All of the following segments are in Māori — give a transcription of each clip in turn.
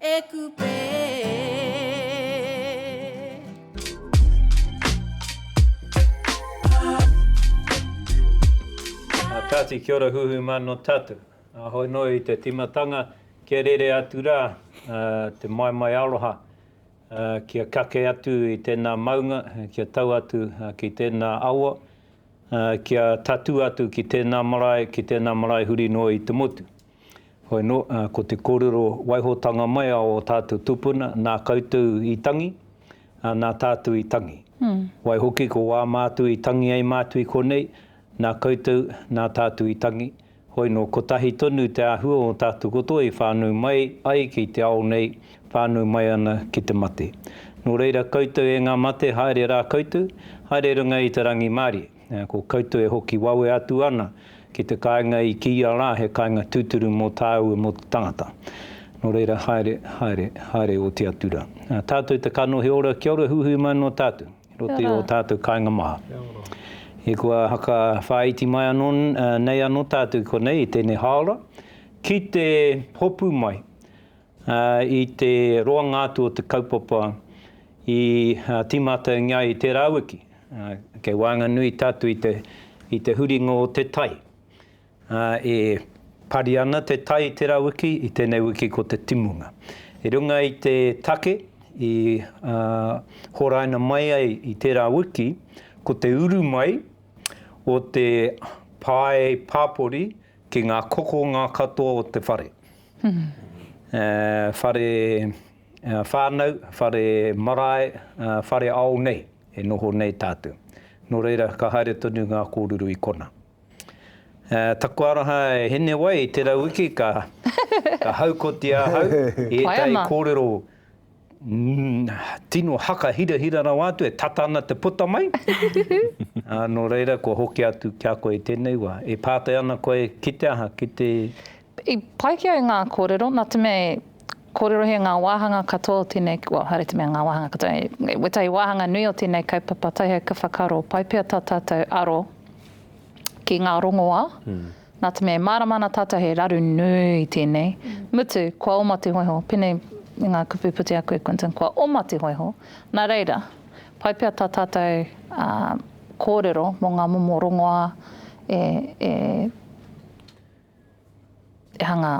E Kupe A Tati kia ora huhu ma no tatou Ahoi no i te timatanga kia rere atu ra te maimai aroha kia kake atu i tena maunga kia tau atu ki tena awa kia tatu atu ki tena marae ki tena marae huri noa i te motu. Hoi anō, ko te kōrero waihotanga mai a ō tātou tūpuna, nā koutou i tangi, ā, nā tātou i tangi. Waihoki, ko wā mātou i tangi ai mātou i konei, nā koutou, nā tātou i tangi. Hoi anō, kotahi tonu te āhua o ō tātou katoa i whānau mai ai ki te ao nei, whānau mai ana ki te mate. Nō reira, koutou e ngā mate, haere rā koutou, haere runga i te rangimārie. Ko koutou e hoki wawe atu ana ki te kāinga i kīia rā he kāinga tūturu mō tāu e mō te tangata. Nō reira, haere, haere, haere oti atu rā. Tātou te kanohi ora, kia ora huihui mai noa tātou i roto i ō tātou kāinga maha. E kua whakawhāiti mai anō nei anō tātou i konei i tēnei hāora ki te hopu mai Ā, i te roanga atu o te kaupapa i tīmātaungia ai i tērā wiki, kei waenganui tā atu i te huringa o te tai. Ā, e pari ana te tai i tērā wiki, i tēnei wiki ko te timunga. I runga i te take i horaina mai ai i tērā wiki, ko te uru mai o te pae pāpori ki ngā kokonga katoa o te whare. whare whānau, whare marae, whare ao nei e noho nei tātou. Nō reira, ka haere tonu ngā kōrero i konā. Taku aroha e Hinewai, tērā wiki ka haukotia ahau i ētahi kōrero. Tino haka hirahira rawa atu e tata ana te puta mai. Nō reira kua hoki atu ki a koe i tēnei wā. E pātai ana koe ki te aha, ki te. I pai ki au ngā kōrero, nā te mea e kōrerohia ngā wāhanga katoa o tēnei, well, haere te mea ngā wāhanga katoa, wētahi wāhanga nui o tēnei kaupapa Taihae ka whakaaro pai pea tā tātou aro ki ngā rongoā. Nā te mea e mārama ana tātou he raru nui tēnei, mutu kua oma te hōiho, pēnei i ngā kupu puta aku e Quinton, kua oma te hōiho, nā reira, pai pea tā tātou kōrero mō ngā momo rongoā e hanga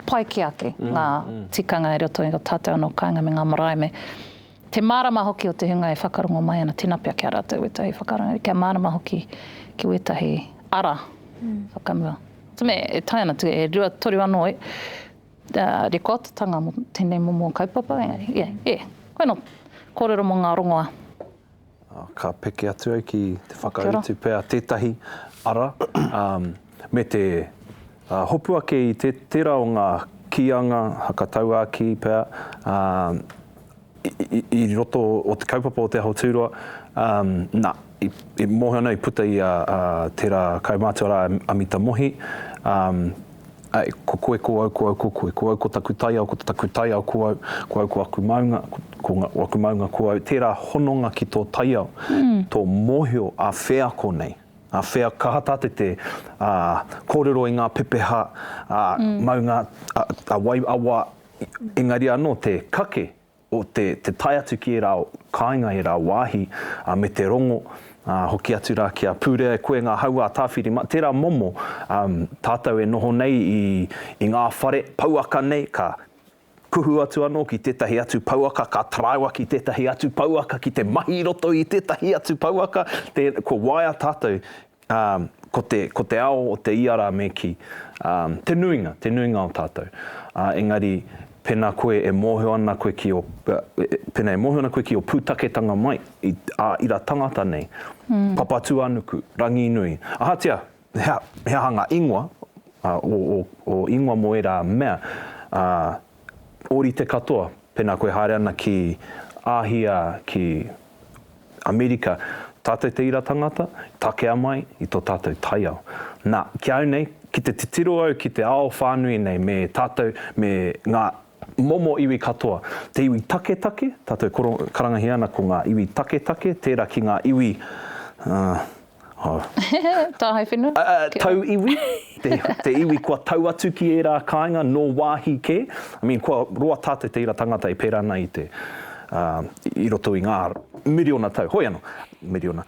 pai ki a koe, ngā tikanga i roto i a tātou anō kāinga me ngā marae me. Te mārama hoki o te hunga e whakarongo mai ana, tēnā pea kia rātou wētahi whakarongo, kia mārama hoki ki wētahi ara whakamua. Te mea e taea ana, e rua, toru anō rekoatatanga mō tēnei momo kaupapa, engari, e, e, koinā kōrero mō ngā rongoā. Ka peke atu au ki te whakautu pea tētahi ara me te hopu ake i tērā o ngā kīanga hakatauākī pea i roto o te kaupapa o Te Aho Tūroa. Na, i mōhio ana i puta i a tērā kaumātua rā, a Mita Mohi. Āe, ko koe, ko au, ko au, ko koe. Ko au ko taku taiao, ko taku taiao ko au. Ko au ko aku maunga, ko aku maunga ko au. Tērā hononga ki tō taiao, tō mōhio a wheako nei, a whea, kaha tā te te kōrero i ngā pepeha, maunga, a wai, a wā, engari anō te kake. te te tae atu ki ērā kāinga, ērā wāhi, ā, me te rongo, ā, hoki atu rā ki a Pūrea e koe ngā hauā tāwhiri mā, tērā momo, ā, tātou e noho nei i, i ngā whare pouaka nei, ka kuhu atu anō ki tētahi atu pouaka, ka taraiwa ki tētahi atu pouaka, ki te mahi i roto i tētahi atu pouaka, tē, kua waea tātou Ā, ko te, ko te ao o te ia rā me kī, ā, te nuinga, te nuinga o tātou. Ā, engari, pēnā koe e mōhio ana koe ki ō, pēnā e mōhio ana koe ki ō pūtaketanga mai i ā ira tangata nei, Papatūānuku, Ranginui, ahatia he aha ngā ingoa, ā, ō, ō, ō ingoa mō ērā mea, ā, ōrite katoa, pēnā koe haere ana ki Āhia, ki Amerika, tātou te ira tangata, takea mai i tō tātou taiao. Nā, ki au nei, ki te titiro au ki te ao whānui nei me tātou, me ngā momo iwi katoa, te iwi taketake, tātou karangahia ana ko ngā iwi taketake, tērā ki ngā iwi, ā, Tāhae whenua? Tau iwi, te iwi kua tau atu ki ērā kāinga nō wāhi kē. I mean, kua roa tātou te ira tangata e pērā ana i te, i roto i ngā miriona tau, hoi anō, miriona,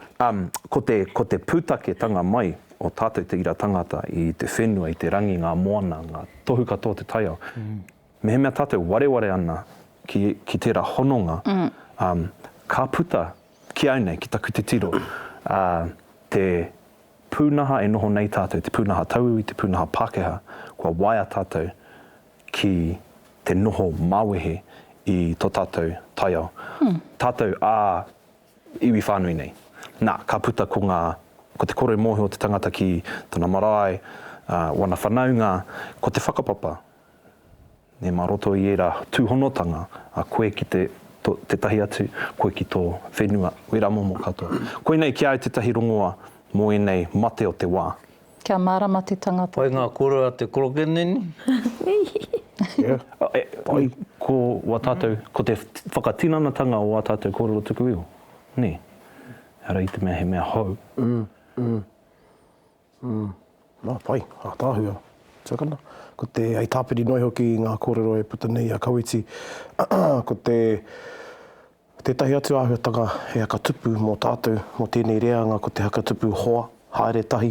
ko te, ko te pūtaketanga mai o tātou te ira tangata i te whenua, i te rangi, ngā moana, ngā tohu katoa o te taiao. Mehemea tātou wareware ana ki, ki tērā hononga, ka puta Ki au nei, ki taku titiro, ā, te pūnaha e noho nei tātou, te pūnaha tauiwi, te pūnaha Pākehā, kua waia tātou ki te noho mawehe i tō tātou taiao, tātou ā iwi whānui nei. Nā, ka puta ko ngā, ko te kore mōhio o te tangata ki tana marae, ā, wana whanaunga, ko te whakapapa. Nē, mā roto i ērā tūhonotanga, a koe ki te, to, tētahi atu, koe ki tō whenua, wērā momo katoa. Koinei ki a au tētahi rongoa mō ēnei mate o te wā. Kia mārama te tangata. Pai ngā koro a te korokeneni. Pai, ko wā tātou, ko te whakatinanatanga o wā tātou kōrero tuku iho, nē. Ehara i te mea he mea hou. Umm. Nā, pai. Ātaahua. Tuakana. Ko te, hei tāpiri noa iho ki ngā kōrero e puta nei i a Kawiti, ko te, tētahi atu āhuatanga he haka tupu mō tātou, mō tēnei reanga ko te haka tupu hoa, haere tahi,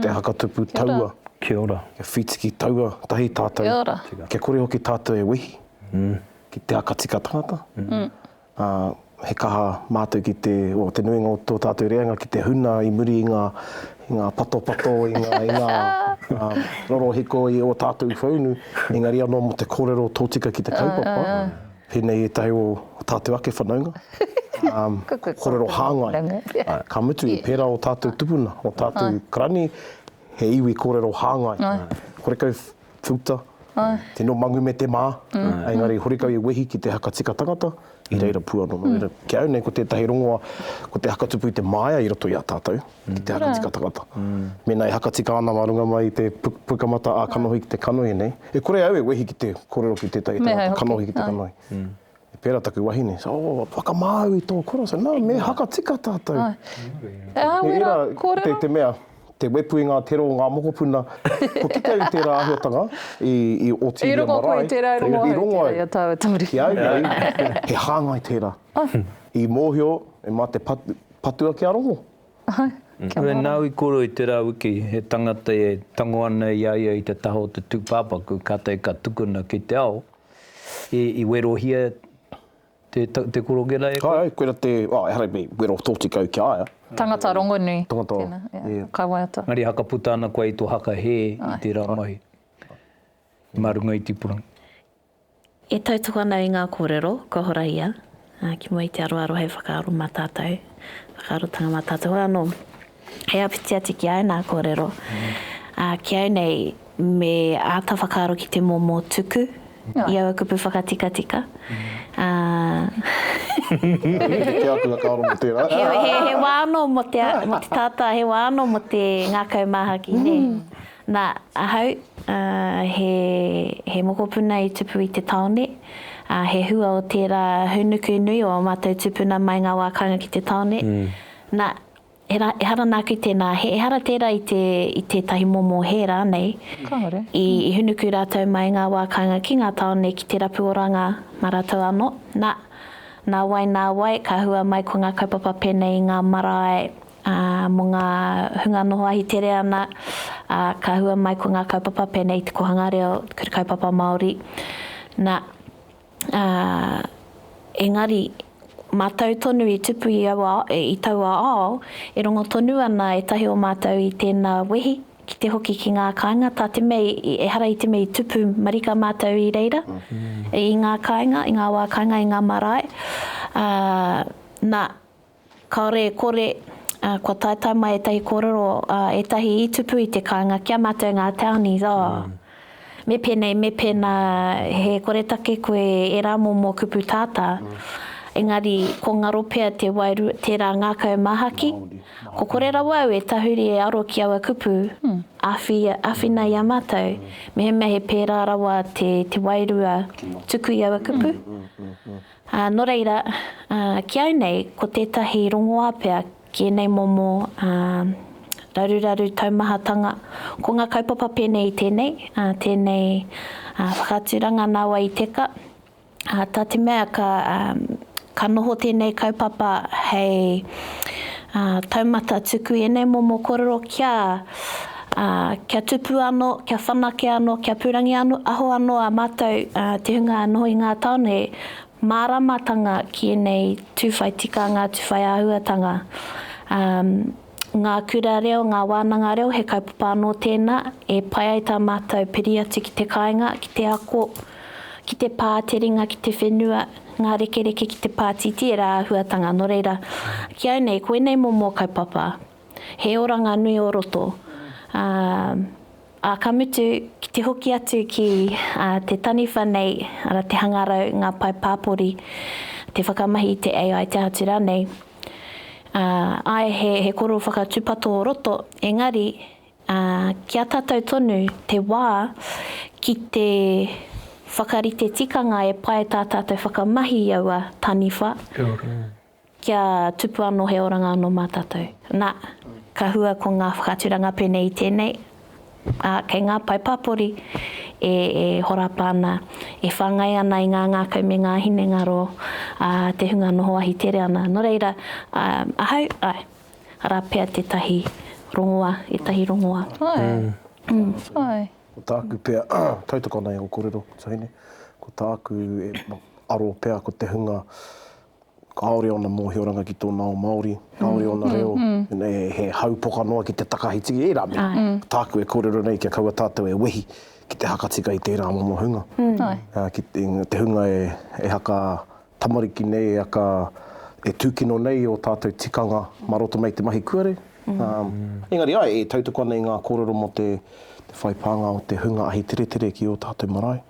te haka tupu taua, Kia ora. kia whītiki taua tahi tātou, kia kore hoki tātou e wehi ki te haka tika tangata. ā, he kaha mātou ki te, o, te nuinga o tō tātou reanga ki te huna i muri i ngā, i ngā patopato, i ngā, i ngā, ā, rorohiko i ō tātou whaunu, engari anō mō te kōrero tōtika ki te kaupapa, pēnei ētahi o ō tātou ake whanaunga, ā, kōrero hāngai. Ka mutu, pērā ō tātou tupuna, ō tātou karani, he iwi kōrero hāngai. Horekau Futa, tino mangu me te maa, engari horekau i wehi ki te haka tika tangata i reira puano. No reira, ki au nei ko tetahi rongoa, ko te haka tupu i te maaea i roto i a tatou, ki te haka tika tangata. Mena e haka tika ana ma runga mai i te pukamata a kanohi ki te kanohi nei, e kore au e wehi ki te korero ki tetahi tangata kanohi ki te kanohi. I pērā taku wahine, he said, oh, whakamāu i tō kura. I said, no, me haka tika tātou. Ai. E awe rā, kōrero. Te, te mea, te wepu i ngā tero o ngā mokopuna, kua kite au i tērā āhuatanga i, i Otiria Marae. I rongo koe i tērā, i rongo au i tērā, i a tāua Tōri. Ki au nei, he hāngai tērā. Ah. I mōhio, e mā te pat, patu ake a rongo. Ai. Kia nāu i koro i tērā wiki, he tangata e tango ana i a ia i te taha o te tūpāpaku, kātahi ka tukuna ki te ao. I werohia te korokera e koe? Ae, koira te, oh, ehara i wero tōtika au ki a ia. Tangata rongonui. Tangata rongonui, yeah. Kai waiata. Engari hakaputa ana koe i tō haka hē i tērā mahi. Mā runga i tipurangi. E tautoko ana i ngā kōrero, kua horahia. Ā, ki mua i te aroaro hei whakaaro mā tātou, whakaarotanga mā tātou hoki anō, hei āpiti atu ki āu nā kōrero, ā, ki au nei me āta whakaaro ki te momo tuku i aua kupu whakatikatika, ā, he wā anō mō te tata, he wā anō mō te ngākau māhaki, nē. Nā, ahau, ā, he, he mokopuna i tupu i te tāone, ā, he hua o tērā hūnuku nui o ā mātou tūpuna mai ngā wā kāinga ki te tāone. Nā, he rā, ehara nāku tēnā, he ehara tērā i te, i tētahi momo hē rānei, i, i hūnuku rātou mai ngā wā kāinga ki ngā tāone ki te rapu oranga mā rātou anō. Nā, nā wai, nā wai, ka hua mai ko ngā kaupapa pēnei i ngā marae Ā, mō ngā hunga noho ahitere ana, ā, ka hua mai ko ngā kaupapa pēnei i te Kohanga Reo, te Kaupapa Māori, nā, ā, engari, mātou tonu i tupu i aua, i taua ao, e rongo tonu ana ētahi o mātou i tēnā wehi, ki te hoki ki ngā kāinga, tā te mea i, ehara i te mea i tupu marika mātou i reira, i ngā kāinga, i ngā wā kāinga, i ngā marae, ā, nā, Kāore e kore, ā, kua taetae mai ētahi kōrero, ā, ētahi i tupu i te kāinga ki a mātou ngā townies, ā, me pēnei, me pēnā, he koretake koe e rā momo kupu tātā, engari ko ngaro pea te waeru, tērā ngākau māhaki, ko kore rawa au e tahuri e aro ki aua kupu, awhi, awhina i a mātou, mehemea he pērā rawa te, te wairua tuku i aua kupu. Ā, nō reira, ā, ki au nei, ko tētahi rongoā pea ki ēnei momo, ā, raruraru taumahatanga, ko ngā kaupapa pēnei i tēnei, ā, tēnei, ā, whakaaturanga nā wai i teka, ā, tā te mea ka, ā, ka noho tēnei kaupapa hei, ā, taumata tuku i ēnei momo korero kia, Ā, kia tupu anō, kia whanake anō, kia pūrangi anō, aho anō ā mātou te hunga noho i ngā tāone māramatanga ki ēnei tū whai tikanga, tū whai āhuatanga. Ā, ngā kura reo, ngā wānanga reo, he kaupapa anō tēnā e pai ai tā mātou piri atu ki te kāinga, ki te ako, ki te pā, te ringa, ki te whenua, ngā rekereke ki te pātītī, ērā āhuatanga. Nō reira, ki au nei, ko ēnei momo kaupapa. He oranga nui o roto. Ā, ka mutu, ki te hoki atu ki te taniwha nei, arā, te hangarau, ngā pae pāpori, te whakamahi i te AI, te aha atu rānei, āe, he koro whakatūpato o roto, engari, ki a tātou tonu te wā ki te whakarite tikanga e pae tā tātou whakamahi i aua taniwha. Kia tupu anō he oranga anō mā tātou. Nā, ka hua ko ngā whakaaturanga pēnei i tēnei, ā, kei ngā pae pāpori e horapa ana, e whāngai ana i ngā ngākau me ngā hinengaro a te hunga noho ahitere ana. Nō reira, ahau, āe, arā pea tētahi rongoā, ētahi rongoā. Āe. Āe. Ko tāku pea, tautoko ana i ō kōrero, Tahine, ko tāku e aro pea ko te hunga Kāore ōna mōhioranga ki tōna ao Māori, kāore ōna reo, he hau poka noa ki te takahi tiki, ērā mea. Tāku e kōrero nei kia kaua tātou e wehi ki te hakatika i tērā momo hunga. Ki te hunga e haka tamariki nei, e haka, e tūkino nei ō tātou tikanga mā roto mai i te mahi kuare. Engari āe, e tautoko ana i ngā kōrero mō te whai pānga o te hunga ahiteretere ki ō tātou marae.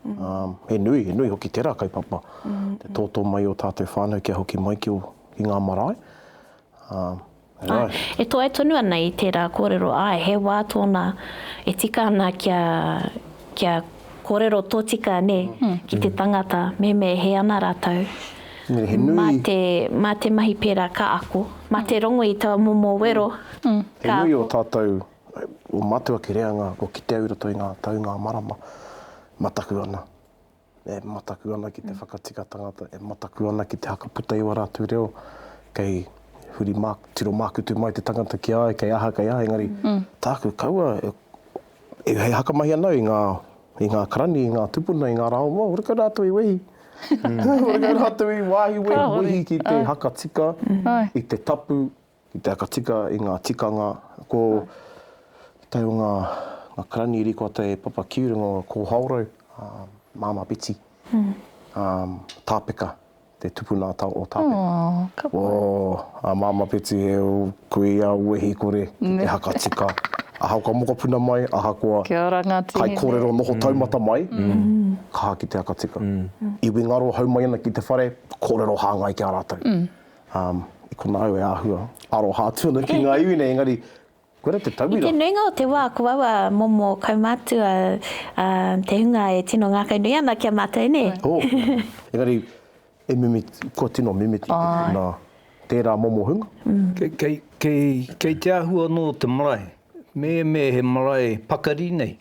He nui, he nui hoki tērā kaupapa, te tōtō mai i ō tātou whānau kia hoki mai ki ngā marae. Āe, e toe tonu ana i tērā kōrero, āe, he wā tōna e tika ana kia kia korero totika ne ki te tangata me me he ana ratou ma te ma te mahi pera ka ako ma te rongo i taua momo wero ka. He nui o tatou o matua ki reanga ko kite au i roto i nga tau nga marama ma taku ana. e mataku ana ki te whakatika tangata, e mataku ana ki te whakaputa i wā rātou reo, kei huri mā, tiro mākutu mai te tangata ki a ai, kei aha, kei aha, engari tāku kaua e, hei hakamahi ana au i ngā, i ngā karani, i ngā tupuna, i ngā rā o mua, horekau rātou i wehi, horekau rātou i wāhi wehi ki te hakatika i te tapu Ki te whakatika i ngā tikanga, ko tau ngā karanieri ko te papa ki runga o Kōhaorau, Māmā Beti, Tāpeka, te tupuna a Tāo o Tāpeka. Ko a Māmā Beti he kuia wehi kore ki te whakatika, ahakoa mokopuna mai, ahakoa kaikōrero noho taumata mai, kaha ki te whakatika. Iwi ngaro hau mai ana ki te whare, kōrero hāngai ki a rātou. Um, i konā au e āhua aroha atu ana ki ngā iwi nei, engari, koirā te tauira. I te nuinga o te wā, ko aua momo kaumātua a te hunga e tino ngākau nui ana ki a mātou, nē? Oh, engari, e mimit, kua tino mimiti te tuna tērā momo hunga? Kei, kei, kei, kei te āhua anō te marae. Me, me he marae pakari nei,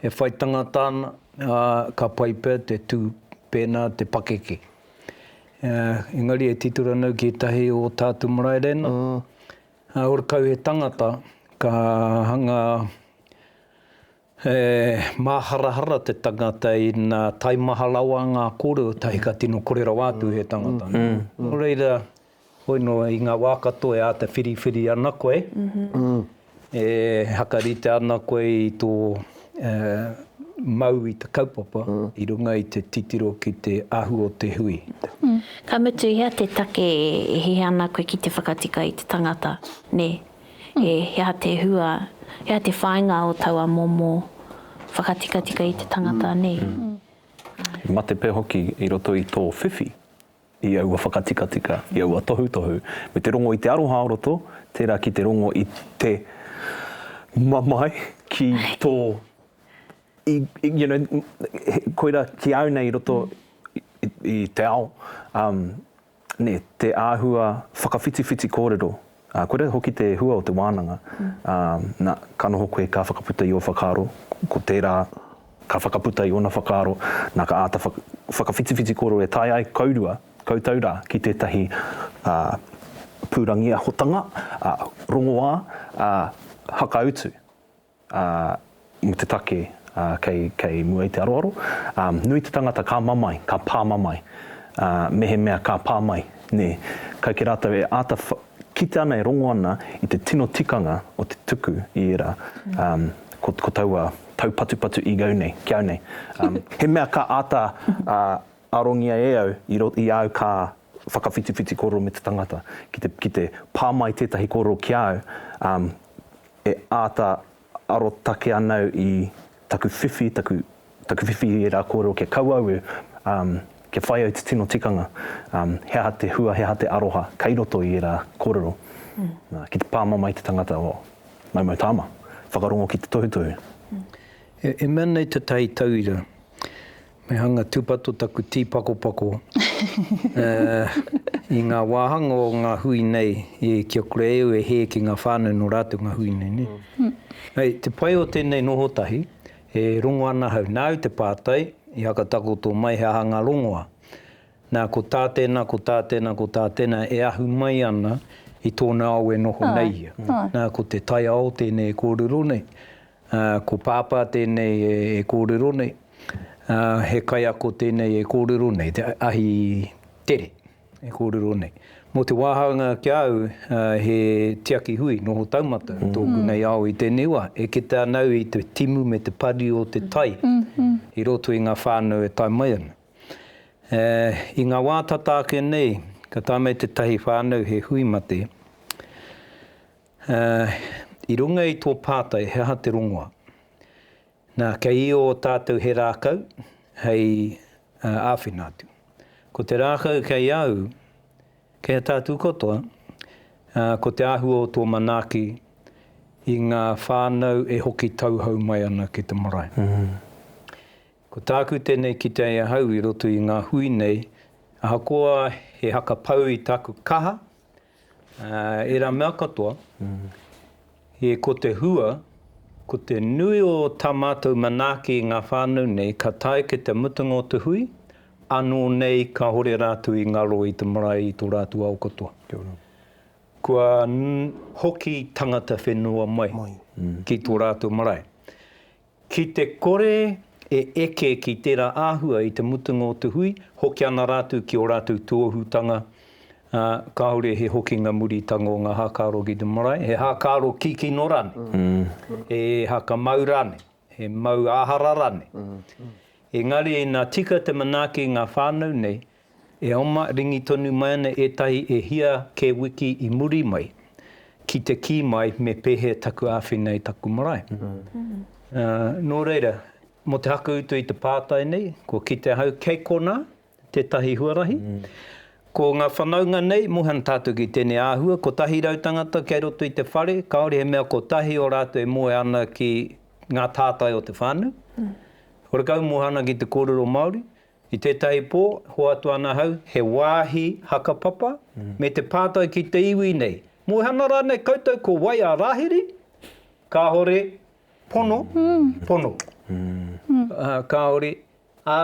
he whai tangata ana, ā, ka pai pea te tū pēnā te pakeke. Engari e tito ranau ki etahi o tatu marae rena. Ora kau he tangata ka hanga he maharahara te tangata ina taimaha rawa nga korero tahi ka tino kore rawa atu he tangata. No reira. Hoi nō i ngā wā katoa e āta whiriwhiri ana koe, e hakarite ana koe i tō mau i te kaupapa i runga i te titiro ki te ahu o te hui. Ka mutu i hea te take e hiha ana koe ki te whakatika i te tangata, nē? He aha te hua, he aha te whāinga o taua momo whakatikatika i te tangata nei? He mate pea hoki i roto i tō whiwhi i aua whakatikatika, i aua tohutohu, me te rongo i te aroha o roto, tērā ki te rongo i te mamae ki tō, i, i, you know, koirā ki au nei i roto i, i te ao, um, nē, te āhua whakawhitiwhiti kōrero, Ā, kua rere hoki te hua o te wānanga, ā, nā, ka noho koe ka whakaputa i ō whakaaro, ko tērā ka whakaputa i ōna whakaaro, nā, ka āta whaka, whakawhitiwhiti kōrero e taea ai kourua, koutou rā, ki tētahi, ā, pūrangiahotanga, ā, rongoā, ā, hakautu. Ā, i te take kei, kei mua i te aroaro, ā, nui te tangata ka mamae, ka pā mamae, ā, mehemea ka pā mai, nē, kai kē rātou e āta wha, kite ana e rongo ana i te tino tikanga o te tuku i ērā, ā, ko, ko taua taupatupatu i au nei, ki au nei, ā, he mea ka āta, ā, arongia e au i ro, i au ka whakawhitiwhiti kōrero me te tangata, ki te, ki te pā mai tētahi kōrero ki a au, ā, e āta arotake ana au i taku whiwhi, taku, taku whiwhi i ērā kōrero kia kau au e, um, kia whai au te tino tikanga, um, he aha te hua, he aha te aroha kei roto i ērā kōrero. Mm. Nā, ki te pāmama i te tangata, oh, maumau tāma, whakarongo ki te tohutohu. Mm. E, e mea nei te tai tauira, Me hanga tūpato taku tīpakopako i ngā wāhanga o ngā hui nei ki a kura eu e hē ki ngā whānau nō rātou ngā hui nei, nē? Hei, te pai o tēnei noho tahi, e rongo ana ahau, nāu te pātai, i hakatakoto mai he aha ngā rongoa. Nā, ko tā tēnā, ko tā tēnā, ko tā tēnā e ahu mai ana i tōna ao e noho nei ia. Nā, ko te taiao tēnei e kōrero nei. Ā, ko Pāpā tēnei e kōrero nei, ā, he kaiako tēnei e kōrero nei, te ahi tere e kōrero nei. Mō te wāhanga ki a au, ā, he tiaki hui, noho taumata tōku nei ao i tēnei wā. E kite ana au i te timu me te pari o te tai i roto i ngā whānau e tae mai ana. Ā, i ngā wā tata ake nei, ka tae mai tētahi whānau he hui mate, Ā, i runga i tō pātai he aha te rongoa. Nā, kei io tātou he rākau hei āwhina atu. Ko te rākau kei au, kei a tātou katoa, ā, ko te āhua o tō manaaki i ngā whānau e hoki tauhou mai ana ki te marae. Ko tāku tēnei kitea i ahau i roto i ngā hui nei, ahakoa he haka pau i tāku kaha, Ērā mea katoa, he ko te hua, ko te nui o tā mātou manaaki i ngā whānau nei ka tae ki te mutunga o te hui, ānō nei kāore rātou i ngaro i te marae i tō rātou ao katoa. Kua hoki tangata whenua mai ki tō rātou marae. Ki te kore e eke ki tērā āhua i te mutunga o te hui, hoki ana rātou ki ō rātou tuohutanga, ā, kāore he hokinga muritanga o ngā hākaro ki te marae, he hākaro kikino rānei, he hakamau rānei, he mau āhara rānei. Engari ina tika te manaaki i ngā whānau nei, E oma ringi tonu mai ana ētahi e hia kē wiki i muri mai ki te kī mai me pēhea taku āwhina i taku marae. Nō reira, mō te hakautu i te pātai nei, kua kite ahau kei konā tētahi huarahi. Ko ngā whanaunga nei, moe ana tātou ki tēnei āhua, 100 tangata kei roto i te whare, kāore he mea kotahi o rātou e moe ana ki ngā tātai o te whānau. Horekau moe ana ki te kōrero Māori, I tētahi pō, hoatu ana ahau he wāhi hakapapa me te pātai ki te iwi nei, Muhana rānei koutou ko wai a Rāhiri? Kāore, pono, pono. Kāore, ā,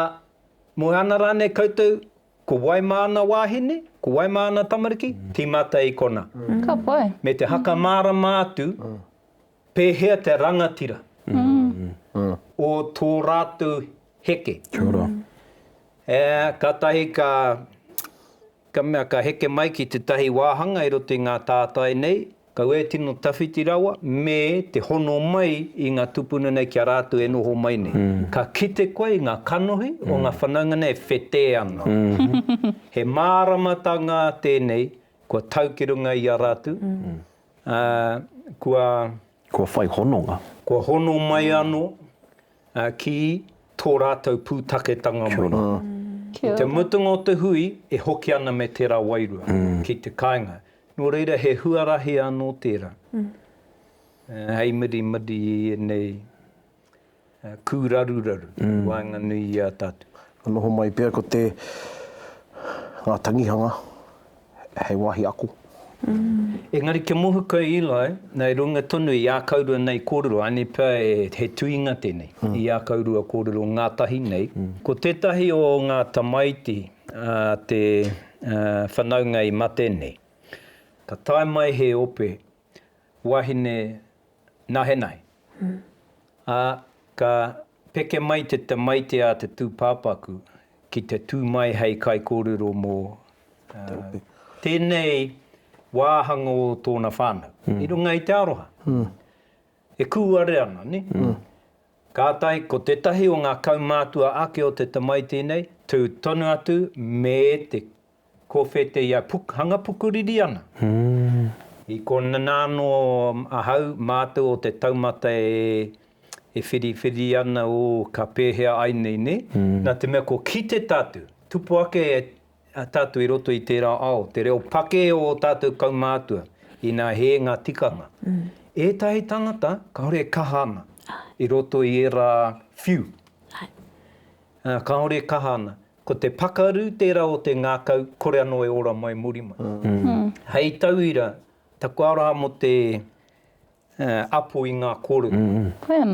Muhana rānei koutou ko wai māna wāhine, ko wai māna tamariki? Tīmata i konā. Ka pai. Me te haka mārama atu Pēhea te rangatira o tō rātou heke? Kia ora. Ē, kātahi ka, ka mea, ka heke mai ki tētahi wāhanga i roto i ngā tātai nei, kau e tino tawhiti rawa, me te hono mai i ngā tūpuna nei ki a rātou e noho mai nei. Ka kite koe i ngā kanohi o ngā whanaunga nei e whetē ana. He māramatanga tēnei kua tau ki runga i a rātou, ā, kua. Kua whai hononga. Kua hono mai anō, ā, ki tō rātou pūtaketanga mai. Kia ora. Kia ora. I te mutunga o te hui, e hoki ana me tērā wairua ki te kāinga. Nō reira, he huarahi anō tērā, hei mirimiri i ēnei. kūraruraru i waenganui i a tātou. Ka noho mai pea ko te, ngā tangihanga hei wāhi ako. Engari kia mohu koe Eli, nei runga tonu i ākaurua nei kōrero, ānei pea he tuinga tēnei i ākaurua kōrero ngātahi nei. Ko tētahi o ngā tamaiti a te whanaunga i mate nei, ka tae mai he ope wahine nahenahe, ā, ka peke mai te tamaiti a te tūpāpaku ki te tū mai hei kaikōrero mō tēnei wāhanga o tōna whānau, i runga i te aroha e kūare ana, nē? Kātahi, ko tētahi o ngā kaumātua ake o te tamaiti nei, tū tonu atu me te Ko Wheteia Pukhanga Pukuririana. I konana anō ahau mātou o te taumata e whiriwhiri ana ō ka pēhea ai nei nē. Nā te mea kua kite tātou, tupu ake tātou i roto i tērā ao, te reo pake o ō tātou kaumātua, inā hē ngā tikanga. Ētahi tangata kāore e kaha ana i roto i ērā whiu. Kāore e kaha ana. Ko te pakaru tērā o te ngākau kore anō e ora mai muri mai. Hei tauira, taku aroha mō te apo i ngā kōrero.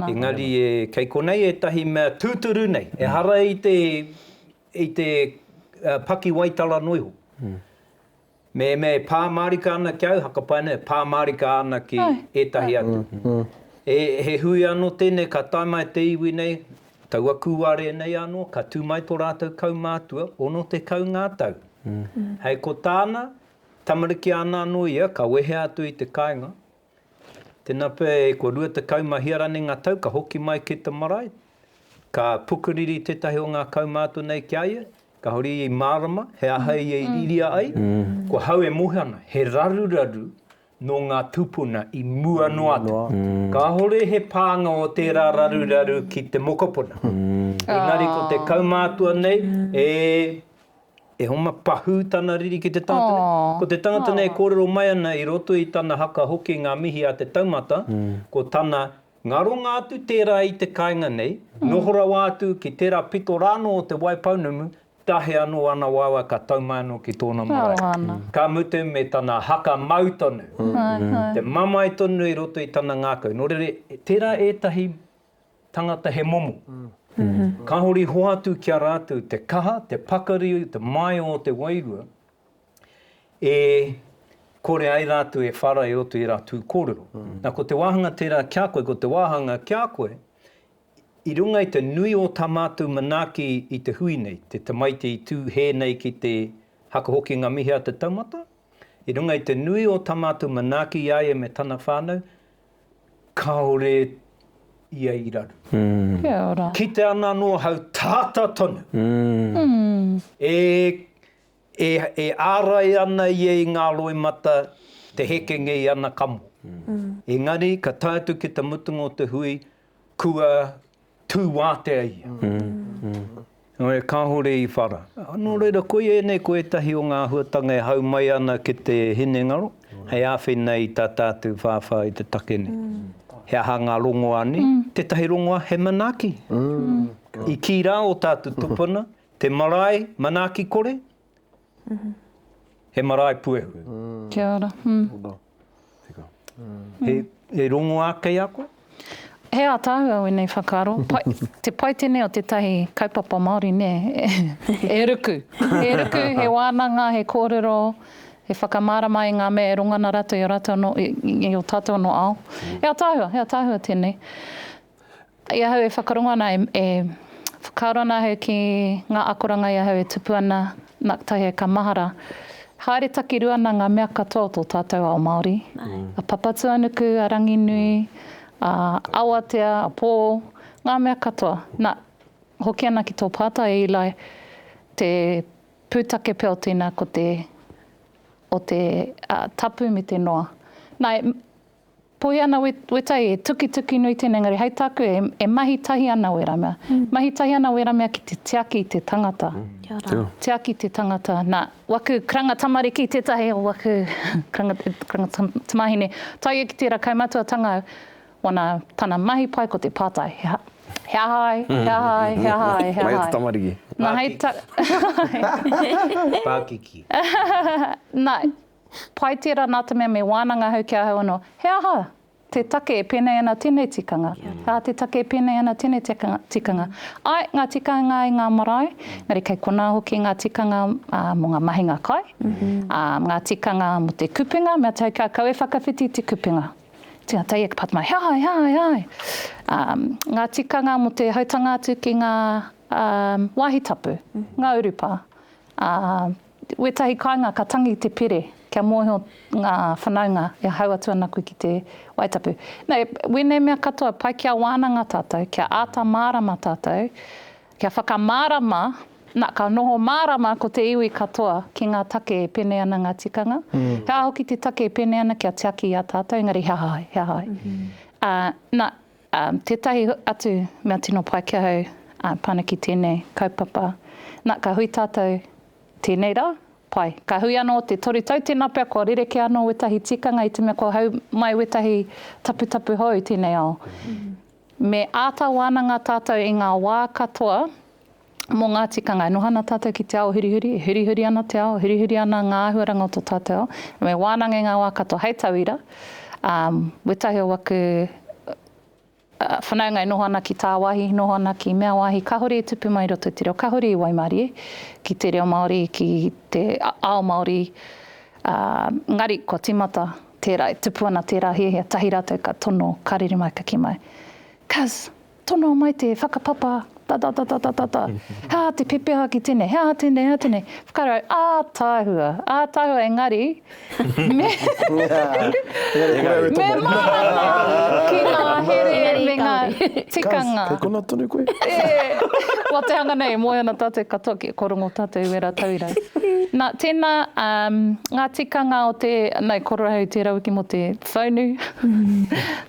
Engari kei konei ētahi mea tūturu nei, ehara i te pakiwaitara noa iho. Me me pā mārika ana ki au, hakapai nei, pā mārika ana ki ētahi atu. E, he hui anō tēnei ka tae mai te iwi nei, taua kūare nei anō, ka tū mai tō rātou kaumātua, 60 ngā tau. Hei ko tāna, tamariki āna anō ia, ka wehea atu i te kāinga, Tena pe ko rua tekau ma hia rane nga tau ka hoki mai ki te marae, ka pukuriri tetahi o nga kaumatua nei ki a ia, kahore ia i marama he aha ia i riria ai, ko hau e mohi ana, he raruraru no nga tupuna i mua noa atu. Kahore he panga o tera raruraru ki te mokopuna. Engari ko te kaumatua nei e. E homa pahū tana riri ki te tangata nei. Ko te tangata nei e kōrero mai ana i roto i tana haka hoki ngā mihi a te taumata, ko tana ngaronga atu tērā i te kāinga nei, noho rawa atu ki tērā pito rā anō o Te Waipounamu, tahe anō ana waewae ka tau mai anō ki tōna marae. Ka mutu me tana haka mau tonu, te mamae tonu i roto i tana ngākau. Nō reira, tērā ētahi tangata he momo. Kahore i hoatu ki a ratou te kaha, te pakari, te maio o te wairua e kore ai ratou e whara e roto i era tu korero. Na ko te wahanga tera kia koe, ko te wahanga kia koe, i runga i te nui o ta matou manaaki i te hui nei, te tamaiti i tu he nei ki te haka hoki nga mihi a te taumata, i runga i te nui o ta matou manaaki i a ia me tana whanau, Kaore ia i raru. Kia ora. Kite ana anō hau tāta tonu. E, e, e ārai ana ia i ngā roimata te hekenge i ana kamo. Engari ka tae atu ki te mutunga o te hui, kua Tū wātea ia. Nō reira kāore i whara. Nō reira koia ēnei ko ētahi o ngā āhuatanga e hau mai ana ki te hinengaro hei āwhina i tā tātou whāwhā i te take nei. He aha ngā rongoā nei? Tētahi rongoā he manaaki. I kī rā ō tātou tupuna, te marae manaaki kore, He marae puehu. Kia ora. He rongoā kei a koe? He ātaahua wēnei whakaaro. Te paitene o tētahi kaupapa Māori, nē, e ruku. E ruku, he wānanga, he kōrero, he whakamārama i ngā mea e rongona rātou i a rātou anō, i ō tātou anō ao. He ātaahua, he ātaahua tēnei. I ahau e whakarongo ana, e whakaaro ana ahau ki ngā akoranga i ahau e tupu ana, nā, kotahi ai ka mahara. Haere takirua ana ngā mea katoa o tō tātou ao Māori, a Papatūānuku, a Ranginui, a Awatea, a Pō, ngā mea katoa. Nā, hoki ana ki tō pātai e Eli, te pūtake pea o tēnā ko te, o te, a, tapu me te noa. Nā, e, Poia ana wetai e tukituki nui tena engari hei taku e mahi tahi ana weramea. Mahi tahi ana weramea ki te tiaki te tangata. Kia ora. Tiaki te tangata na waku karanga tamariki tetahi o waku karanga tamahine taia ki tera kaumatuatanga wana tana mahi pai ko te patai he aha ai he aha ai he aha ai he aha ai. Mai atu tamariki. Na hei ta. Pakiki. Na Pai tērā nā te mea me wānanga ahau ki ahau anō, he aha te take e pēnei ana tēnei tikanga, he aha te take e pēnei ana tēnei tikanga. Āe, ngā tikanga i ngā marae, engari kei konā hoki ngā tikanga mō ngā mahinga kai, ngā tikanga mō te kupenga, mea tau kia kau e whakawhiti te kupenga. Tēnā, tau ia ki Pātamahi, he aha, he aha, he aha. Ngā tikanga mō te hautanga atu ki ngā wāhi tapu, ngā urupā. Wētahi kāinga ka tangi te pere kia mōhio ngā whanaunga e hahau atu ana koe ki te Wae Tapu. Nā, e wēnei mea katoa, pai kia wānanga tātou, kia āta mārama tātou, kia whakamārama, nā, ka noho mārama ko te iwi katoa ki ngā take e pēnei ana ngā tikanga. He aha hoki te take e pēnei ana kia tiaki i a tātou, engari he aha ai, he aha ai. Ā, nā, Tētahi atu mea tino pai ki ahau, pana ki tēnei kaupapa. Na, ka hui tātou, tēnei rā, pai. Ka hui anō te toru tau, tēnā pea kua rerekē anō wētahi tikanga i te mea kua hau mai wētahi taputapu hou i tēnei ao. Me āta wānanga tātou i ngā wā katoa. mō ngā tikanga. E noho ana tātou ki te ao hurihuri, e hurihuri ana te ao, e hurihuri ana ngā āhuaranga o tō tātou ao. Me wānanga i ngā wā katoa. Hei tauira, um, wētahi o aku uh, whanaunga e noho ana ki tāwāhi, noho ana ki mea wāhi, kāhore e tupu mai roto i te reo, kāhore i waimarie ki te reo Māori, ki te ao Māori, uh, ngari kua tīmata tērā, e tupu ana tērā hiahia, tahi rātou ka tono, ka rere mai, ka ki mai. Cuz Tonoa mai te whakapapa, tatatatatata, he aha te pepeha ki tenei, he aha tenei, he aha tenei. Whakarau, ataahua, ataahua engari me me mārama ki ngā here me ngā tikanga. Kei konā tonu koe? Wa te hanga nei, e moe ana tātou katoa ki, kua rongo tātou i wērā tauira. Na, tēnā, ngā tikanga o te, nau, korohau tērā wiki mō te whaunu,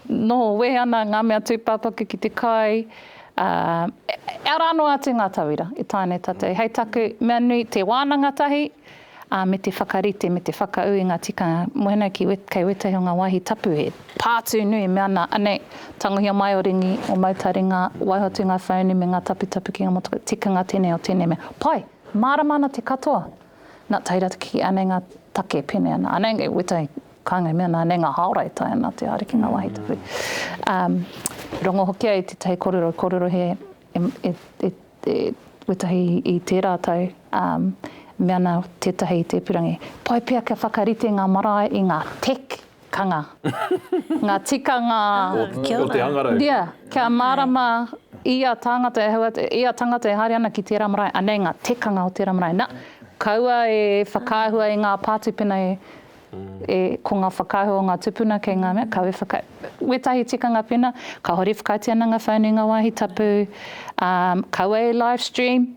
Noho wehe ana ngā mea tūpāpaku ki te kai, ā, e ara noa atu ngā tauira e taea nei tātou. Hei taku mea nui, te wānanga tahi, ā, me te whakarite, me te whakaū i ngā tikanga. Mōhena ki, kei wētahi o ngā wāhi tapu he. Pātū nui e mea ana, anei, tangohia mai o Ringi, o Mautari ngā, waiho atu ngā whaunu me ngā taputapu ki ngā motokā, tikanga tēnei o tēnei mea. Pai, mārama ana te katoa. Nā, tae rātou ki anei ngā take e pēnei ana. Anei, kei wētahi. Kānga i mea, nā, nē ngā haora e tae ana te ariki ngā wāhi tupu. Ā, i rongo hoki ai tētahi kōrero, kōrero he, e, e, e, wētahi i tērā tau, ā, mea ana tētahi i te ipurangi, pai pea kia whakarite ngā marae i ngā tek, kanga, ngā tikanga, o te hangarau. Ia, kia mārama ia tāngata e hau, ia tangata e haere ana ki tērā marae, anei ngā tekanga o tērā marae. Nā, kaua e whakaahua i ngā pātū pēnei E, ko nga whakaahua o nga tupuna kei nga mea, kawe whaka, wetahi tikanga pena, kahore whakaiti ana nga phone i nga wahi tapu, um, kawe e live stream.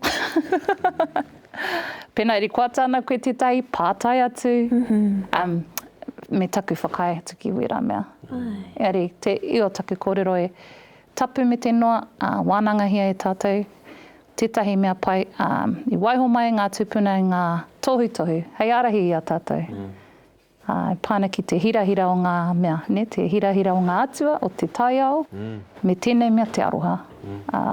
pena rikoata ana koe tetahi, patai atu, um, me taku whakaae atu ki wera mea. Eari, te, io taku korero e, Tapu me te noa, ā, wānangahia e tātou tētahi mea pai, ā, i waiho mai ngā tūpuna i ngā tohutohu hei ārahi i a tātou, ā, e pā ana ki te hirahira o ngā mea, nē, te hirahira o ngā atua, o te taiao, me tēnei mea te aroha, ā.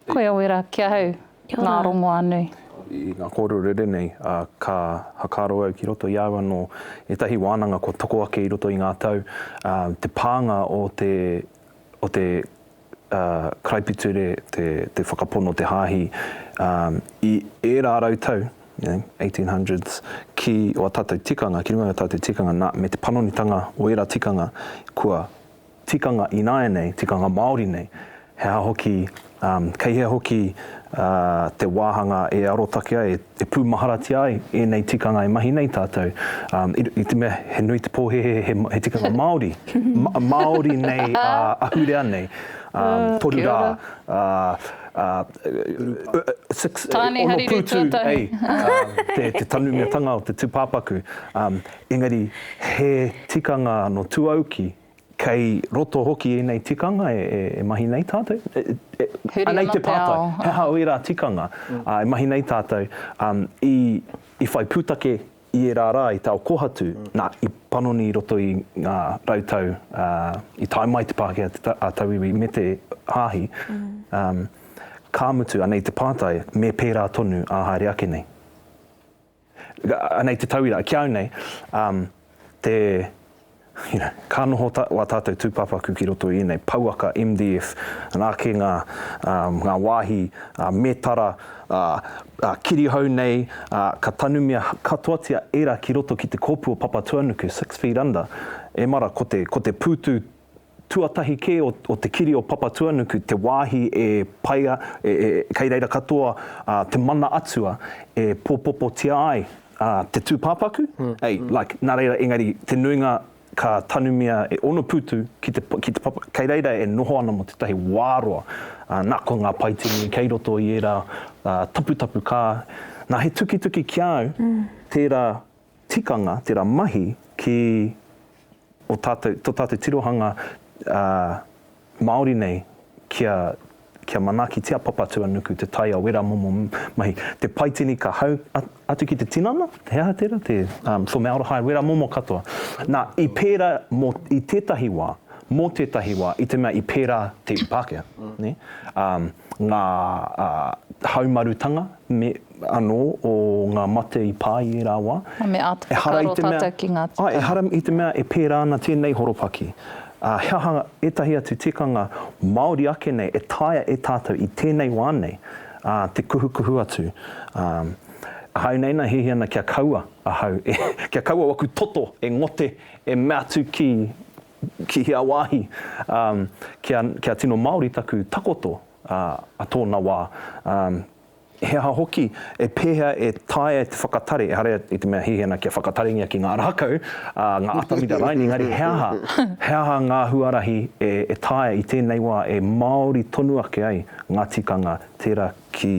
Koia wera ki ahau, ngā rongoā nui. I ngā kōrero rere nei, ā, ka whakaaro au ki roto i au anō ētahi wānanga kua toko ake i roto i ngā tau, ā, te pānga o te, o te, ā, karaipiture, te, te whakapono, te hāhi, ā, i ērā rau tau, you know, eighteen hundreds, ki ō tātou tikanga, ki runga i ō tātou tikanga, nā, me te panonitanga o ērā tikanga, kua. tikanga ināianei, tikanga Māori nei, he aha hoki, kei hea hoki te wāhanga e arotake ai, e pūmaharatia ai ēnei tikanga e mahi nei tātou, i te mea he nui te pōhēhē he tikanga Māori, Māori nei ahurea nei, toru rā, ono pūtu, te tanumiatanga o te tūpāpaku, Engari, he tikanga anō tuauki, kei roto hoki ēnei tikanga e mahi nei tātou? Huri anō te ao. He aha ērā tikanga e mahi nei tātou i whai pūtake i ērā rā i te ao kōhatu, nā, i panoni i roto i ngā rau tau i tae mai te Pākehā, a Tauiwi me te Hāhi, ka mutu, anei te pātai, me pērā tonu ā haere ake nei? Anei te tauira, ki au nei, um, te, you know, ka noho ta, wā tātou tūpāpaku ki roto i ēnei pouaka MDF, nā ke ngā, um, ngā wāhi uh, mētara, uh, uh, kirihou nei, uh, ka tanumia katoatia ērā ki roto ki te kōpū o Papatuanuku, six feet under, emara ko te, ko te pūtu tuatahi kē o te kiri o Papatuanuku, te wāhi e paea, kei reira katoa te mana atua e pōpopotia ai te tūpāpaku, like, nā reira, engari te nuinga ka tanumia e Onopūtu ki te, ki te papa, kei reira e noho ana mō tētahi wā roa, nā, ko ngā paiti nui kei roto i ērā taputapu, ka, nā, he tukituki ki a au tērā tikanga, tērā mahi ki o tātou, tō tātou tirohanga Māori nei kia, kia manaaki te Apapatuanuku, te tai a wera momo mahi. Te paitini ka hau atu ki te tinana, he aha tērā, te formaldehyde, wera momo katoa. Nā, i pērā mō, i tētahi wā, mō tētahi wā, i te mea i pērā te Pākehā, nē? ngā haumarutanga me anō o ngā mate i pā i ērā wā. Ā, me āta whakaaro tātou ki ngā tikanga. Āe, ehara i te mea e pērā ana tēnei horopaki. Ā, he aha ētahi atu tikanga Māori ake nei e taea e tātou i tēnei wā nei, ā, te kuhukuhu atu. Ā, ahau nei nā hēhē ana kia kaua ahau e, kia kaua waku toto e ngote, e mea atu ki ki hea wāhi, ā, kia, kia tino Māori taku takoto, ā, a tōna wā, ā, he aha hoki, e pēhea e taea e te whakatare, ehara i te mea hihina kia whakatarengia ki ngā rākau, ā, ngā atamira raini, engari he aha, he aha ngā huarahi e, e taea i tēnei wā e Māori tonu ake ai ngā tikanga tērā ki,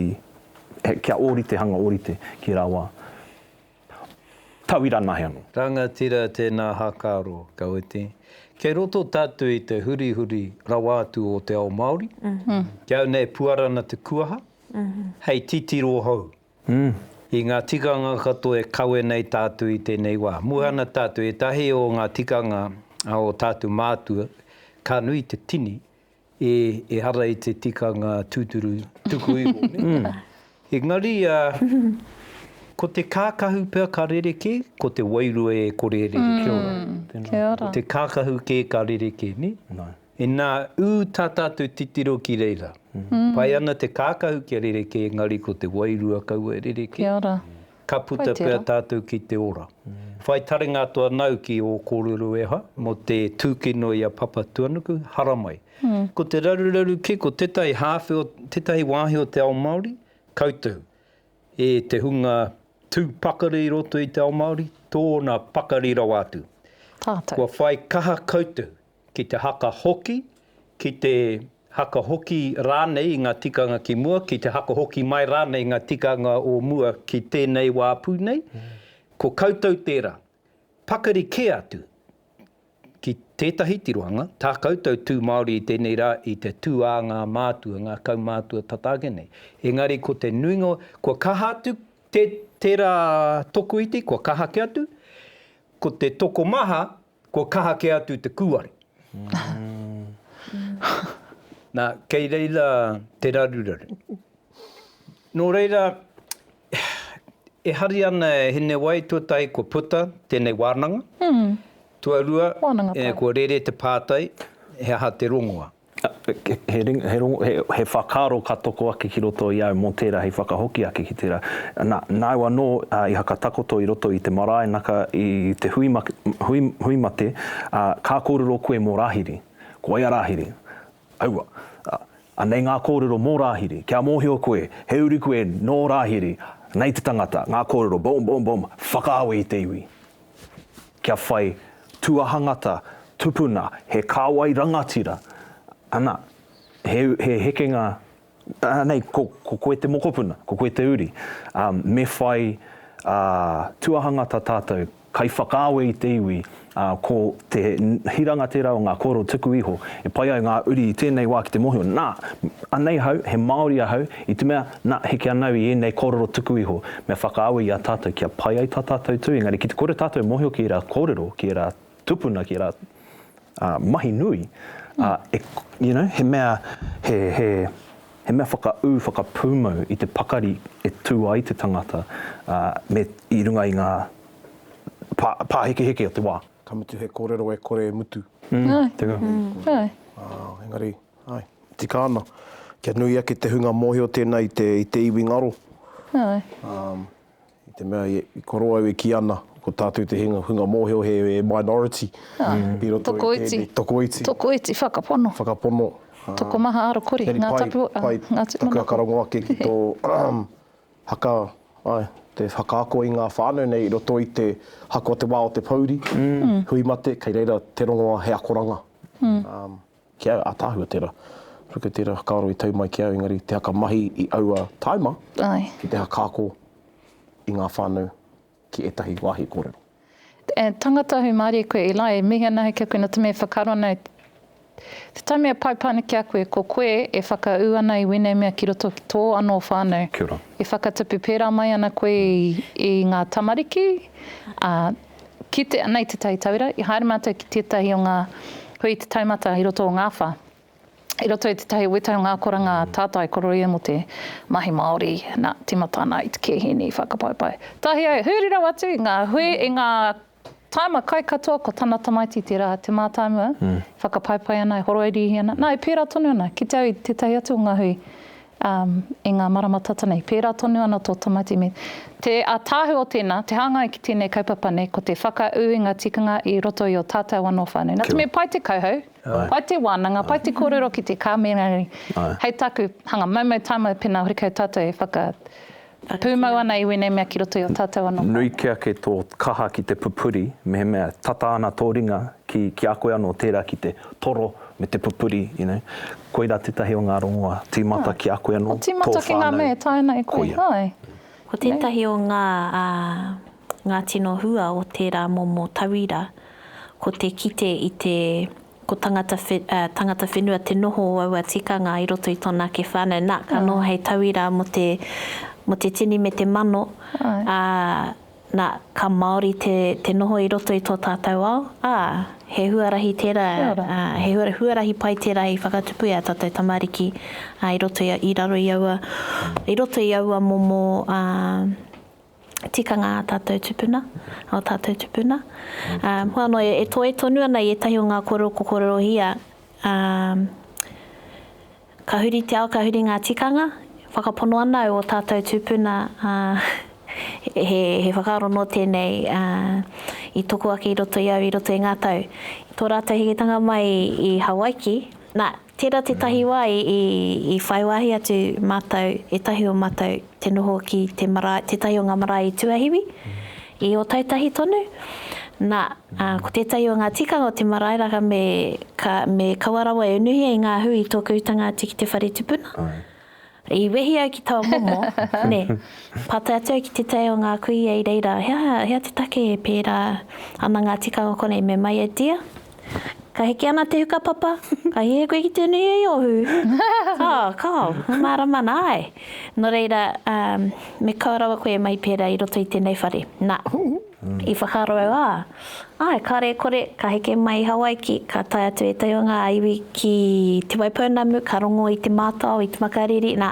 kia ōrite hanga ōrite ki rā wā. Tauira nahe ano. Rangatira tēnā hākaro, ka wete, kei roto tātou i te hurihuri rawa atu o te ao Māori, ki au nei puarana te kuaha, hei titiro hou, i ngā tikanga katoa e kawe nei tātou i tēnei wā. Muhana tātou, ētahi o ngā tikanga o tātou mātua, ka nui te tini, E, ehara i te tikanga tūturu tuku iho, nē? Engari, ā, ko te kākahu pea ka rerekē, ko te wairua e kore e rerekē. Kia ora. Tēnā. Kia ora. Ko te kākahu kē ka rerekē, nē? Nā. Inā, ū tā tātou titiro ki reira. Pai ana te kākahu kia rerekē, engari ko te wairua kaua e rerekē. Kia ora. Ka puta pea tātou ki te ora. Whai taringa atu anau ki ō kōrero e hā, mō te tūkino i a Papatuanuku, haramai. Ko te raruraru kē, ko tētahi hāwhe o tētahi wāhi o te ao Māori, koutou, e te hunga tū pakari i roto i te ao Māori, tōna pakari rawa atu. Kua whai kaha koutou ki te haka hoki, ki te haka hoki rānei i ngā tikanga ki mua, ki te haka hoki mai rānei i ngā tikanga o mua ki tēnei wā pū nei, ko koutou tērā. Pakari kē atu ki tētahi tirohanga, tā koutou tū Māori i tēnei rā, i te tū ā ngā mātua, ngā kaumātua tata ake nei. Engari ko te nuinga, kua kaha atu tērā tokoiti, kua kaha kē atu, ko te tokomaha, Kua kaha kē atu te kūare. Nā, kei reira te raruraru. Nō reira, e hari ana e Hinewai tuatahi kua puta tēnei wānanga, tuarua, kua rere te pātai he aha te rongoa. He whakaaro ka toko ake ki roto i au mō tērā hei whakahoki ake ki tērā. Nāu anō i hakatakoto i roto i te marae naka i te hui mate, ā, ka kōrero koe mō Rāhiri. Ko wai a Rāhiri? Aua. Anei ngā kōrero mō Rāhiri. Kia mōhio koe, he uri koe nō Rāhiri. Nei te tangata, ngā kōrero, boom, boom, boom, whakaawe i te iwi. kia whai tuahangata tupuna, he kāwai rangatira, ana, he, he hekenga, anei, ko, ko koe te mokopuna, ko koe te uri. Ā, me whai, ā, tuahangata tātou, kai whakaawe i te iwi, ā, ko te hiranga tērā o ngā kōrero tuku iho, e pai ai ngā uri i tēnei wā ki te mōhio, nā, anei ahau, he Māori ahau, i te mea, Na, heke ana au i ēnei kōrero tuku iho, me whakaawe i a tātou kia pai ai tā tātou tū, engari ki te kore tātou e mōhio ki ērā kōrero, ki ērā tupuna, ki ērā mahi nui, ā, e, you know, he mea, he, he, he mea whakaū, whakapūmau i te pakari e tū ai te tangata, ā, me, i runga i ngā pā, pāhekeheke o te wā. Ka mutu he kōrero e kore e mutu. Āe. Tēnei kōrero. Āe. Ā, engari. Āe, tika ana. Kia nui ake te hunga mōhio tēnā i te, i te iwi ngaro. Āe. Ā, i te mea i, i koro au e kī ana, ko tātou te hinga, hunga mōhio he, he minority. Āe. I roto i tēnei. Tokoiti. Tokoiti. Tokoiti, whakapono. Whakapono. Ā. Tokomaha arokore. Engari Ngā tapu, ā, pai, ngā tūmanako. Taku aka rongo ake ki tō haka, āe, te whakaako i ngā whānau nei i roto i te haka o te wā o te pouri, hui mate, kei reira te rongoa he akoranga. Ā, Ki a Ataahua tera. Ruku tera whakaaro i tau mai ki au engari te haka mahi i aua taima ki te haka ako i nga whanau ki etahi wahi korero. E tangata ahu marie koe Eli, e mihi ana ahau kia koe na te mea whakaaro ana e Te taimi a pai pane ki a koe, ko koe e whaka u ana i wenei mea ki roto ki to ano whanau. E whakatupu pera mai ana koe i nga tamariki, a. Kite ana i Te Tai Taura, i haere mātou ki tētahi o ngā hui i te taumata i roto o Ngāwha, i roto i tētahi weta o ngā akoranga tātai koroia mō te mahi Māori, nā, tīmata ana i te kehini whakapaepae. Tahi ai, huri rawa atu i ngā hui, i ngā tāima kai katoa, ko tana tamaiti tērā, te mātāmua, whakapaepae ana, e horoiriihi ana. Nā, e pērā tonu ana, kite au i tētahi atu o ngā hui, i ngā marama tata nei. Pērā tonu ana tō Tamati me. Te ātaahua o tēnā, te hāngai ki tēnei kaupapa nei, ko te whakaū i ngā tikanga i roto i ō tātou anō whānau. Nā te mea pai te kauhau, pai te wānanga, pai te kōrero ki te kāmera nei, hei taku hanga maumau tāmau pēnā horekau tātou e whaka, E pūmau ana i wēnei mea ki roto i a tātou anō kāinga. Nui kia ake tō kaha ki te pupuri, mehemea tata ana tō ringa ki, ki a koe anō tērā ki te toro me te pupuri, you know. Koirā tētahi o ngā rongoā, tīmata ki a koe anō, tō whānau. O tīmata ki ngā mea e taea ana e koe, hai. Ko tētahi o ngā, ā. Ngā tino hua o tērā momo tauira, ko te kite i te ko tangata tangata whenua te noho o aua tikanga i roto i tōna ake whānau, nā, ka noho hei tauira mō te mō te tini me te mano, ā, nā, ka Māori te te noho i roto i tō tātou ao, ā, he huarahi tērā, ā, he huarahi pai tērā i whakatupu e ā tātou tamariki, ā, i roto i raro i aua i roto i aua momo, ā. tikanga a tātou tupuna, o tātou tupuna. Hua anō e toe tonu ana i ētahi o ngā kōrero ko kōrerohia, ka huri te ao, ka huri ngā tikanga, whakapono ana au o tātou tupuna, he whakaaro nō tēnei i toko ake i roto i au i roto i ngā tau. Tō rātou hikitanga mai i Hawaiki, nā, Tērā tētahi wā i whai wāhi atu mātou, ētahi o mātou, te noho ki te marae, tētahi o ngā marae i Tuahiwi, i Ōtautahi tonu. Nā, ko tētahi o ngā tikanga o te marae raka me, me kaua rawa e unuhia i ngā hui i tōku utanga atu ki te whare tupuna. I wehi au ki taua momo, nē. Pātai atu au ki te tae o ngā kuia i reira, he aha, he aha te take e pērā ana ngā tikanga konei me mai e Tia? Ka heke ana te huka papa, ka hiahia koe ki te nuia i ō hū. Kao, kao, he mārama ana, āe. Nō reira, me kaua rawa koe e mai pērā i roto i tēnei whare. Nā. I whakaaro au, ā, āe, kāore e kore, ka heke mai i Hawaiki, ka tae atu ētahi o ngā iwi ki Te Waipounamu, ka rongo i te mātao, i te makariri, nā,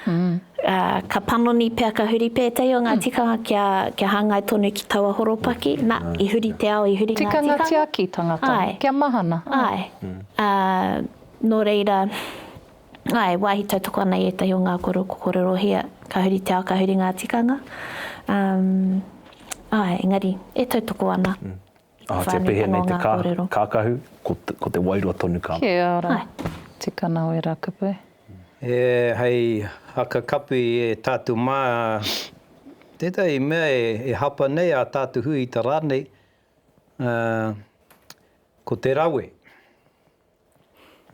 ā, ka panoni pea ka huri pea ētahi o ngā tikanga kia, kia hāngai tonu ki taua horopaki, nā, i huri te ao, i huri ngā tikanga. Tikanga tiaki tangata, kia mahana. Āe. Ā, nō reira, Ā, e wāhi tautoko ana i ētahi o ngā koro ko Kororohia, ka huri te ao, ka huri ngā tikanga. Um, ā, engari, e tautoko ana. Mm. Ā, kia pēhea nei te kā, kākahu, ko, ko te wairua tonu ka. Kia ora. Āe. Te kanawera kupu. E, hei haka kapi e tātou mā, tētahi mea e, e hapa nei ā tātou hui i ta rānei, ā, ko te rawe.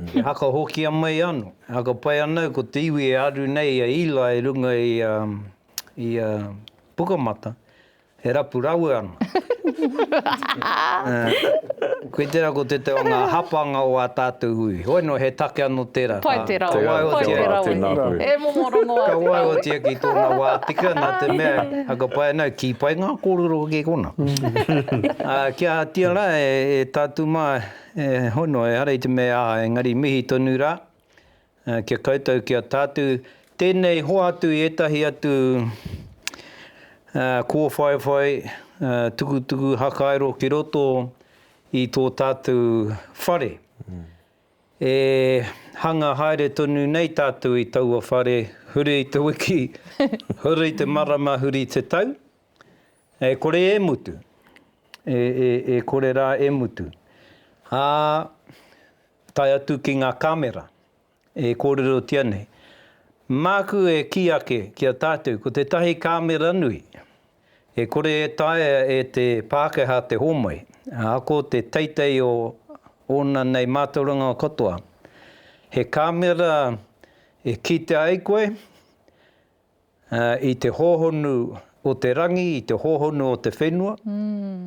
E haka hoki a mai ano, e haka pai ana au ko te iwi e aru nei i a Eli i runga i a i a Pukamata, e rapu rawe ana. Koe tera ko te te o nga hapanga o a tatou hui. Hoi no he take ano tera. Pai te rawe, pai te rawe. E momo rongo a te rawe. Ka waiotia ki tona wa tika na te mea e haka pai ana au, ki pai nga korero hoki kona. Kia hatia la e tatu ma. He hono, ehara i te mea aha, engari mihi tonu rā ki a koutou, ki a tātou. Tēnei hoatu i ētahi atu kōwhaiwhai, tukutuku, hakairo ki roto i tō tātou whare. E hanga haere tonu nei tātou i taua whare, huri i te wiki, huri te marama, huri te tau. E kore e mutu, e, e, e kore rā e mutu. Ā, tae atu ki ngā kāmera, e kōrerotia nei. Māku e kī ake ki a tātou, ko tētahi kāmera nui, e kore e taea e te Pākehā te hōmai, ā, ko te teitei o ōna nei mātauranga katoa, he kāmera e kitea ai koe, I te hōhonu o te rangi, i te hōhonu o te whenua,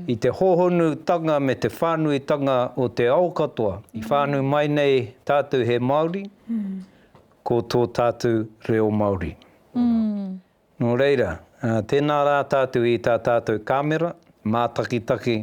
i te hōhonutanga me te whānuitanga o te ao katoa, i whānui mai nei tātou he Māori, ko tō tātou reo Māori. Nō reira, tēnā rā tātou i tā tātou kāmera, mātakitaki,